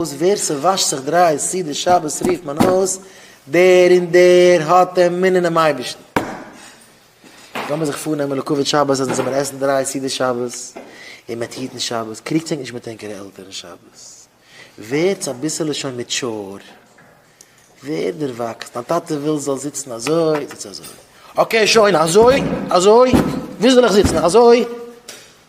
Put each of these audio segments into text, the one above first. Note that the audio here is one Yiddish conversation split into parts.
וואס ווער ס'וואשט זיך דריי סעודות שבת רופט מען אויס דער און דער האט אמון אינעם אייבערשטן. לאמיר זיך פארנעמען לקחת שבת אז מ'זאל מער עסן דריי סעודות שבת און מעט היטן שבת, קריגטס ענק נישט מיט ענקערע עלטערן שבת, ווערטס אביסעלע שוין מעטשור, ווערט דערוואקסן, דיין טאטע וויל זאלסט זיצן אזוי, זיץ אזוי, אקעי שוין אזוי, אזוי, וואו זאל איך זיצן, אזוי?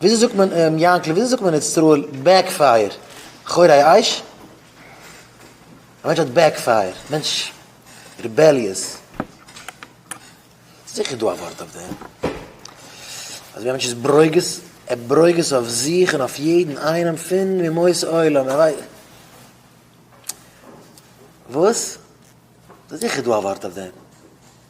וויאזוי זאגט מען און יאנקל וויאזוי זאגט מען אין איצטראל בעק פייער חורי אש? א מענטש האט בעק פייער, א מענטש ריבעליעס. זיכער דא א ווארט אויף דעם. אזויווי א מענטש איז ברוגז, ער ברוגז אויף זיך און אויף יעדן איינעם פון אומות עולם, ער ווייסט. וואס? זיכער דא א ווארט אויף דעם.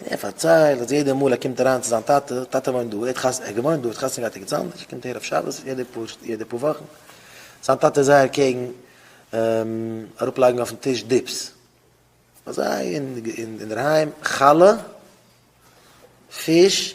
און ער פארציילט אז יעדע מאל ער קומט אריין צו זיין טאטע, טאטע וואוינט דא, ער האט חתונה, ער האט געוואוינט דא, ער האט חתונה געהאט ערגעץ אנדערש, ער קומט אהער אויף שבת יעדע פאר, יעדע פאר וואכן, זיין טאטע איז זייער קעגן אראפלייגן אויפן טיש דיפס, ביי זיי אינדערהיים חלה, פיש,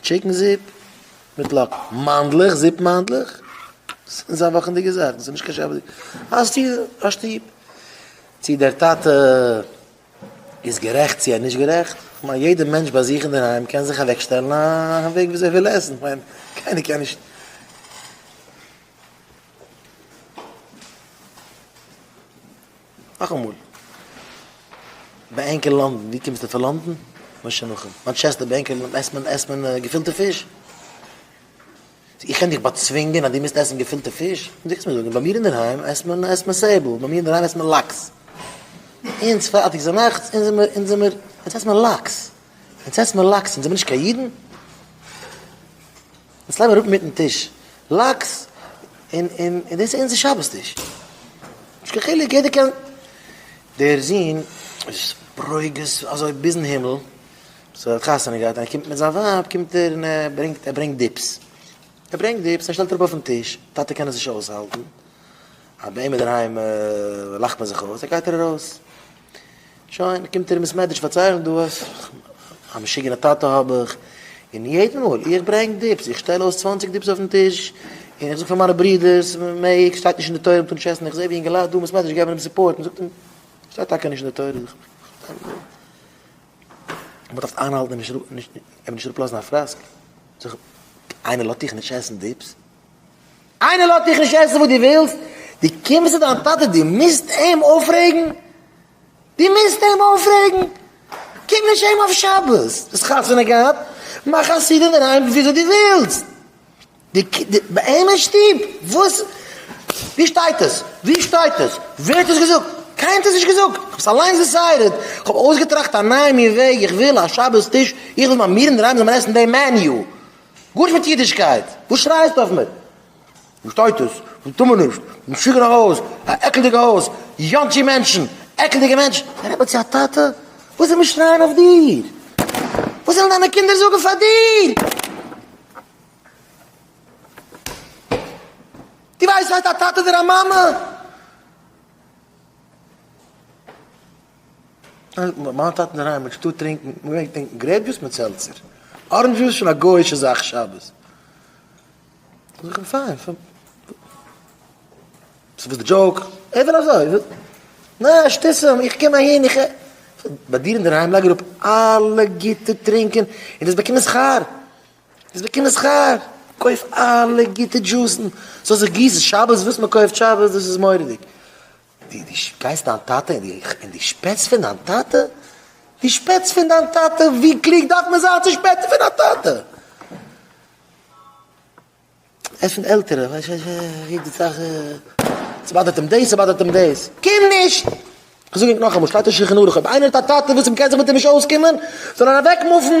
טשיקן זופ מיט לאקן. מאנדלעך זופ מאנדלעך איז א וואכענדיגע זאך דאס איז נישט קיין שבתדיגע האסט דיר א שטוב צו דער טאטע איז גערעכט צו ער איז נישט גערעכט כ'מיין יעדע מענטש ביי זיך אינדערהיים קען זיך אוועק שטעלן א וועג וויאזוי ער וויל עסן כ'מיין קיינער קען נישט נאכאמאל, ביי ענק אין לאנדן, ווי קומסטו פון לאנדן? משה נחום, מאנטשעסטער, ביי ענק אין לאנדן עסט מען עסט מען געפילטע פיש? איך קען דיך באצווינגען אז דו מוזט עסן געפילטע פיש? דו קענסט מיר זאגן, ביי מיר אינדערהיים עסט מען עסט מען סעבל, ביי מיר אינדערהיים עסט מען לאקס. אונז פארטיג זיי נאכטס, אונז זעמער אונז זעמער, אונז עסט מען לאקס. אונז עסט מען לאקס, זעמער נישט קיין אידן? יעצט לייג מיר אראפ מיטן טיש לאקס און און און דאס איז אונזער שבת טיש. נישט קיין חילוק יעדער קען. דער זון איז ברוגז אזוי ביזן הימל, סאו ער האט חתונה געהאט און ער קומט מיט זיין ווייב קומט ער און ער ברענגט ער ברענגט דיפס. ער ברענגט דיפס ער שטעלט אראפ אויפן טיש, טאטע קען עס נישט אויסהאלטן אז ביי אים אינדערהיים לאכט מען זיך אויס, ער גייט ער ארויס. שוין, קומט ער אין בעסמעדריש פארציילן דא אז א משוגענע טאטע האב איך, און יעדן מאל איך ברענג דיפס, איך שטעל אויס צוואנציג דיפס אויפן טיש, און איך זאג פאר מיינע ברודערס, מעג, שטייט נישט אין די תורה מ'טאר נישט עסן, איך זע ווי אינגעלייט דא אין בעסמעדריש געבן אים סופארט, מ'זאגט אים, שטייט טאקע נישט אין די תורה, זאג איך, מ'דארף איינהאלטן און נישט אראפלאזן א פראסק, זאג איך, איינער לאזט דיך נישט עסן דיפס? איינער לאזט דיך נישט עסן וואס דו ווילסט, דו קומסט צו דיין טאטע, דו מוזט אים אויפרעגן? דו מוזט אים אויפרעגן? קום נישט אהיים אויף שבת, האסט חתונה געהאט, מאך א סעודה אינדערהיים וויאזוי דו ווילסט. ביי אים אין שטוב, וואס? וואו שטייט עס? וואו שטייט עס? ווער האט עס געזאגט? קיינער האט עס נישט געזאגט, איך האב עס אליינס דיסיידעד, איך האב אויסגעטראכט א נייע מין וועג, איך וויל א שבת טיש, איך וויל ביי מיר אינדערהיים זאל מען עסן דעם מעניו, גארנישט מיט אידישקייט! וואס שרייסטו אויף מיר? וואס שטייט דאס? וואס טאר מען נישט? משוגענע הויז! א עקלדיגע הויז! יאנטשי מענטשן! עקלדיגע מענטשן! א רבי האט זי א טאטע? וואס זאל מען שרייען אויף דיר? וואס זאלן דיינע קינדער זאגן פאר דיר? דו ווייסט וואס הייסט א טאטע אדער א מאמע? מיין טאטע אינדערהיים האט שטאט טרינקן מ'געמעגט טרינקן גרעיפ דזשוס מיט סעלצער, ארענדזש דזשוס שוין א גויאישע זאך שבת. זאג איך פיין פון ס'איז וואס די דזשאוק? ער וויל אזוי. נע שטיסעם איך קום אהין איך ע. ביי דיר אינדערהיים לייג אראפ אלע גוטע טרינקען און דאס באקומען שכר. דאס באקומען שכר. קויף אלע גוטע דזשוסן. ס'זאל זיך גיסן שבת וואס מ'קויפט שבת דאס איז מורא'דיג. די די שפעסט דיין טאטע און די און די שפעטסט פון דיין טאטע די שפעטסט פון דיין טאטע ווי קלוג דארף מען זיין צו שפעטן פון א טאטע ער פון עלטערע ווייסט ווייסט ווי די זאך ס'באדערט אים דעיס ס'באדערט אים דעיס קום נישט כ'זאג ענק נאכאמאל שטייט אין שלחן ערוך אויב איינער האט א טאטע וואס עם קען זיך מיט עם נישט אויסקומען זאל ער אוועק מופן.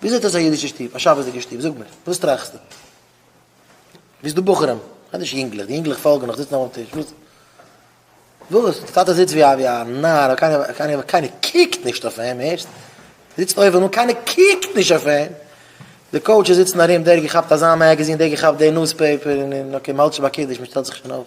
ווי זעט אויס א אידישע שטוב? א שבת'דיגע שטוב? זאג מיר, וואס טראכסטו? ווי איז דא בחורים? כ'מיין נישט יונגלעך, די יונגלעך פאלגן נאך, זיצן אויף דעם טיש, וואס? וואס? די טאטע זיצט ווי א נאר, קיינער, קיינער קוקט נישט אויף אים, הערסט? זיצט אויבן אן, קיינער קוקט נישט אויף אים, די קאוטשעס זיצן ארום, דער געכאפט אזא מעגעזין, דער געכאפט די נוזפעיפער, און און אקעי, מ'האלט שוין ביי קידוש, מ'שטעלט זיך שוין אויף.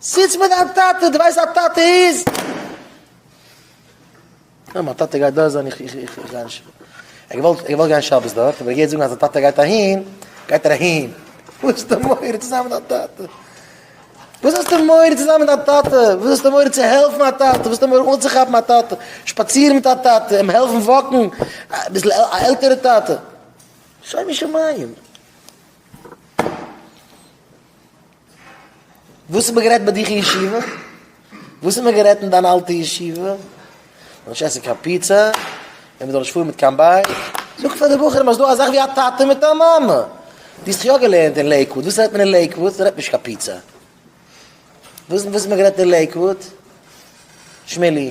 זיץ מיט דיין טאטע, דו ווייסט א טאטע איז. יא מיין טאטע גייט דארט זיין, איך איך איך איך גיי נישט, ער האט געוואלט ער האט געוואלט גיין שבת דארט, אבער ער געהערט זאגן אז זיין טאטע גייט אהין, גייט ער אהין, וואס האסטו מורא צו זיין מיט דיין טאטע, וואס האסטו מורא צו זיין מיט דיין טאטע, וואס האסטו מורא צו העלפן א טאטע, וואס האסטו מורא אנצוכאפן א טאטע, שפאצירן מיט א טאטע, אים העלפן וואקן, אביסל א עלטערע טאטע, שומו שמים. וואס האט מען גערעדט ביי דיך אין ישיבה? וואס האט מען גערעדט אין דיין אלטע ישיבה? מ'זאל נישט עסן קיין פיצא, און מ'זאל נישט פארן מיט קיין בייק. זאג פאר די בחורים אז ס'דא אזאך ווי א טאטע מיט א מאמע. דו האסט יא געלערנט אין לעיקוואוד, וואס רעדט מען אין לעיקוואוד? מ'רעדט נישט קיין פיצא. וואס האט מען גערעדט אין לעיקוואוד? שמילי.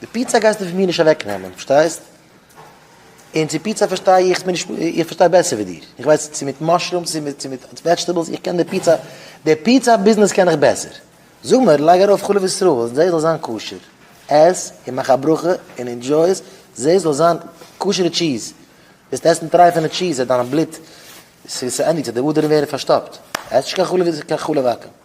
די פיצא גייסטו פון מיר נישט אוועק נעמען, פארשטייסט? און צו פיצא פארשטיי איך, איך בין נישט, איך פארשטיי בעסער ווי דיר, איך ווייס צו מיט מאשרומס צו מיט, צו מיט וועדזשטעבלס, איך קען די פיצא, די פיצא ביזנעס קען איך בעסער. זאג מיר, לייג ארויף חלב ישראל, זעה ס'זאל זיין כשר, עס און מאך א ברכה און אינדזשוי עס, זעה ס'זאל זיין כשר'ע טשיז, וועסט עסן טרייפענע טשיז אז דיין בלוט, ס'ענדיגט זיך, די אדערן ווערן פארשטאפט, עס נישט קיין חלב, קיין חלב עקום.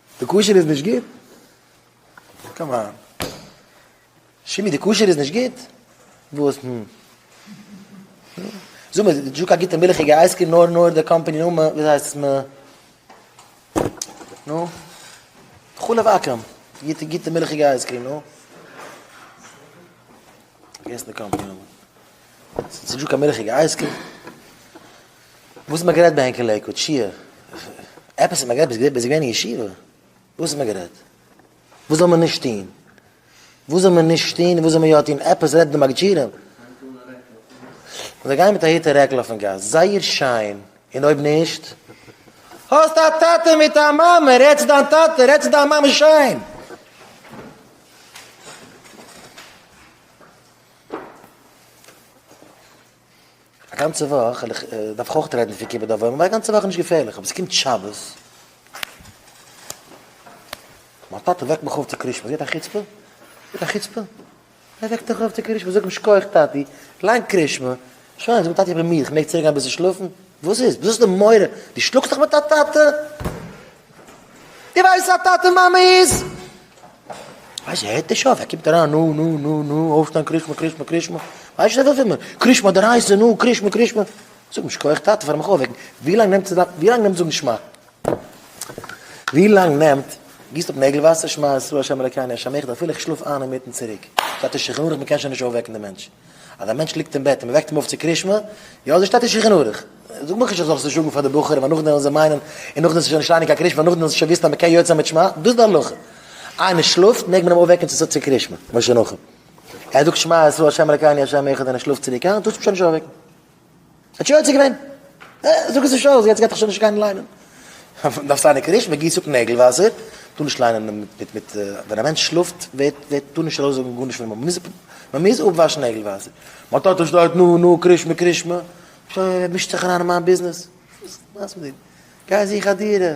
די קשר איז נישט גוט? קאמאן. שימי די קשר איז נישט גוט? וואס נו? זאג מיר, די דזשוק א גוטע מילכיגע אייזקרים נאר נאר די קאמפאני נאמען, ווי הייסט עס מ... נו? חלב עכום, גוטע גוטע מילכיגע אייזקרים נו? פארגעסן די קאמפעני נאמען. ס'איז נישטא קיין מילכיגע אייזקרים? וואס האט מען גערעדט ביי ענק אין לעיקוואד? שיעור? עפעס האט מען גערעדט? ביזט ביזט געווען אין ישיבה? וואס האט מען גערעדט? וואס זאל מען נישט טוהן? וואס זאל מען נישט טוהן און וואס זאל מען יא טוהן? עפעס רעדט די מגדשירים? זיי גייען מיט א היט און רעקל אויפן גאס, זייער שיין, און אויב נישט? האסט א טאטע מיט א מאמע, רעד צו דיין טאטע, רעד צו דיין מאמע שיין! א גאנצע וואך, און איך דארף אויך רעדן פון כיבוד אב ואם, א גאנצע וואך איז נישט געפערליך, אבער עס קומט שבת, מיין טאטע וועקט מיך אויף צו קרישמע, זי האט א חוצפה? זי האט א חוצפה? ער וועקט דיך אויף צו קרישמע, זאג אים שכוח טאטי, ליין קרישמע, שוין, זאג אים טאטי איך בין מיד, איך מעג צוריקגיין אביסל שלאפן? וואס איז? וואס איז די מורא? דו שלאגסט דיך מיט א טאטע? דו ווייסט וואס א טאטע מאמע איז? ווייסט ער הערט נישט אויף ער קומט אריין נו נו נו נו אויפשטיין קרישמע קרישמע קרישמע ווייסט נישט וואס איז קרישמע דער הייסע נו קרישמע קרישמע זאג נישט כח טאטע פאר מיך אויפוועקן ווי לאנג נעמט ווי לאנג נעמט זאגן שמע ווי לאנג נעמט גיסט אפ נעגל וואסער שמע ישראל השם אלוקינו השם אחד אפילו איך שלאף איין אינמיטן צוריק זייט נישט שכנוע איך מ'קען שוין נישט אויפוועקן די מענטש אז א מענטש ליגט אין בעט און מ'וועקט אים אויף צו קרישמע, יא אזוי שטייט אין שולחן ערוך. זאג מיך נישט איך זאל ס'זאגן פאר די בחורים ווייל נאכדעם וועלן זיי מיינען און נאכדעם ס'שוין נישט אייניג קיין קרישמע נאכדעם זאלסטו שוין וויסן אז מ'קען יוצא מיט שמע, דאס די הלכה. איינער שלאפט מעג מען אים אויפוועקן צו צו קרישמע, משה נחום. ער זאגט שמע ישראל ה' אלקינו ה' אחד און ער שלאפט צוריק איין, טוסטו אים שוין נישט אויפוועקן. האט יוצא געווען. זאג עס נישט אויס, יעצט גייט ער שוין נישט גיין ליינען. דארף זיין עיקר'יש, מען גיסט אפ נעגל וואסער, טאר נישט ליינען מיט מיט, ווען א מענטש שלאפט ווערט טאר נישט ארויס זאגן גארנישט, מען מוז אפוואשן נעגל וואסער. מיין טאטע שטייט נו נו קרישמע קרישמע, מישט זיך אריין אין מיין ביזנעס, וואס איז נאס מיט דיר? גיי זוך א דירה,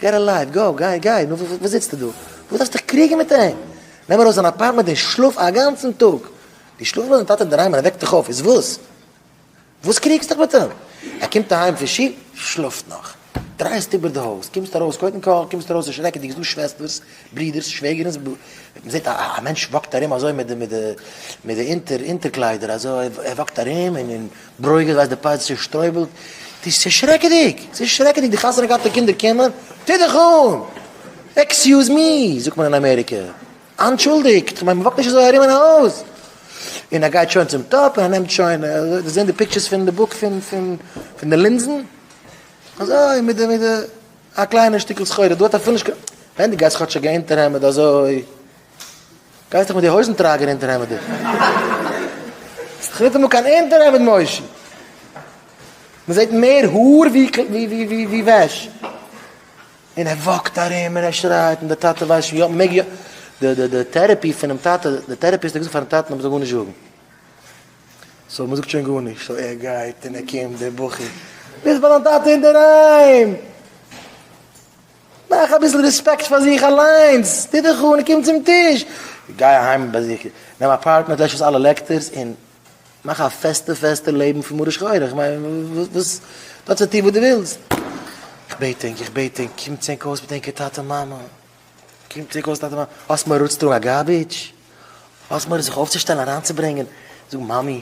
געט א לייף, גאו, גיי, גיי, נו וואס זיצטו דא? וואס דארפסטו דיך קריגן מיט אים? נעם ארויס זיין אפארטמענט און שלאף א גאנצן טאג! דו שלאפסט ביי דיין טאטע אינדערהיים און ער וועקט דיך אויף, איז וואס? וואס קריגסט דיך מיט אים? ער קומט אהיים פון שול, שלאפט נאך. דרייסט איבער די הויז, קומסט ארויס, קודם כל קומסט ארויס און שרעקעדיג, ס'דא שוועסטערס, ברידערס, שוועגערינס, בלע. מען זעט א מענטש וואקט ארום אזוי מיט די אונטער אונטער קליידער אזוי, ער וואקט ארום און ברוגז ווייזט די פייץ צושטרויבלט, ס'איז שרעקעדיג! ס'איז שרעקעדיג! די חתונה גייט אין קינדער קימער! טוה דיך אן! עקסיוז מי! זאגט מען אין אמעריקע. אנטשולדיגט! כ'מיין מ'וואקט נישט אזוי ארום אין א הויז! און ער גייט שוין צום טאפ און ער נעמט שוין, אזוי זעהן די פיקטשערס פון די בוק פון פון די לינזן, אזוי מיט די מיט די א קליינע שטיקל סחורה דא האט ער אפילו נישט קיין, ווען די גייסט כאטש א געהענטער העמד אזוי גייסט דאך מיט די הויזן טראגער אונטער העמד דא. האסט דאך ניטאמאל קיין אונטער העמד מושי. מ'זעט מער האר ווי וועש. און ער וואקט ארום און ער שרייט און די טאטע ווייסט שוין יא מ'מעג יא. די די טערעפי פונעם טאטע, די טערעפיסט האט געזאגט פארן טאטן אז מ'זאל גארנישט זאגן. סאו מ'זאגט שוין גארנישט. סאו ער גייט און ער קומט דער בחור. ביזט ביי דיין טאטע אינדערהיים! מאך אביסל רעספעקט פאר זיך אליינס, טו דיך אן, קום צום טיש, גיי אהיים ביי זיך, נעם א פארטנער, לעש אויס אלע לעקטערס און מאך א פעסטע פעסטע לעבן פון מרה שחורה, איך מיין וואס, דו האסט צו טון וואס דו ווילסט. איך בעט ענק, איך בעט ענק, קומט ענק אויס מיט ענקער טאטע מאמע, קומט ענק אויס מיט טאטע מאמע, האסט מורא אנצוטראגן א גארביטש? האסט מורא זיך אויפצושטעלן אריינצוברענגען, זאג מאמי,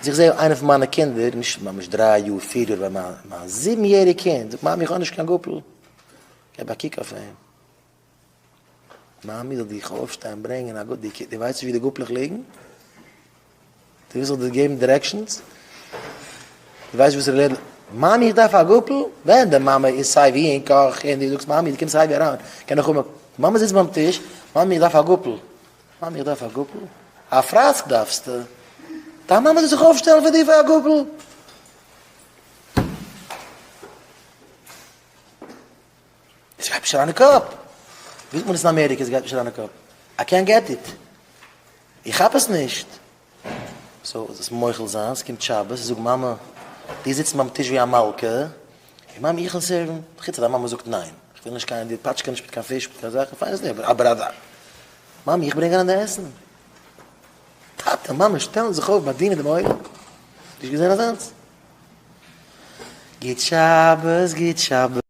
אז איך זע איינע פון מיינע קינדער, נישט ממש דריי יאר, פיר יאר, אבער מיין זיבן יעריג קינד זאגט מאמי איך האב נישט קיין גאפל, געב א קוק אויף אים, מאמי זאל דיך אויפשטיין ברענגען א גאפל, דו ווייסט נישט ווי די גאפלעך ליגן? דו ווילסט איך זאל דיר געבן דירעקשאנס? דו ווייסט וואס ר' לעדל, מאמי איך דארף א גאפל? ווען די מאמע איז סיי ווי אין קאך און דו זאגסט מאמי דו קומסט סיי ווי אריין, קען איך האבן א, די מאמע זיצט ביים טיש, מאמי איך דארף א גאפל. מאמי איך דארף א גאפל? א פראסק דארפסטו? דיין מאמע זאל זיך אויפשטעלן פאר דיר פאר א גאפל? עס גייט נישט אריין אין קאפ. ווי זאגט מען עס אין אמעריקע עס גייט נישט אריין אין קאפ? איי קענט געט איט. איך כאפ עס נישט. סאו זאלסט מוחל זיין, ס'קומט שבת, זאג מאמע, דו זיצן ביים טיש ווי א מלכה, און מאמי איך וויל סערוון, חוץ אז דיין מאמע זאגט ניין, איך וויל נישט קיין, די פאטשקע נישט מיט קיין פיש מיט קיין זאכן, פיין איז דער, אבער אז א. מאמי איך ברענג אריין די עסן. טאטע מאמע שטעלן זיך אויף ביי דיר אין דעם אוהל, נישט געזען אזאנס. גוט שבת גוט שבת.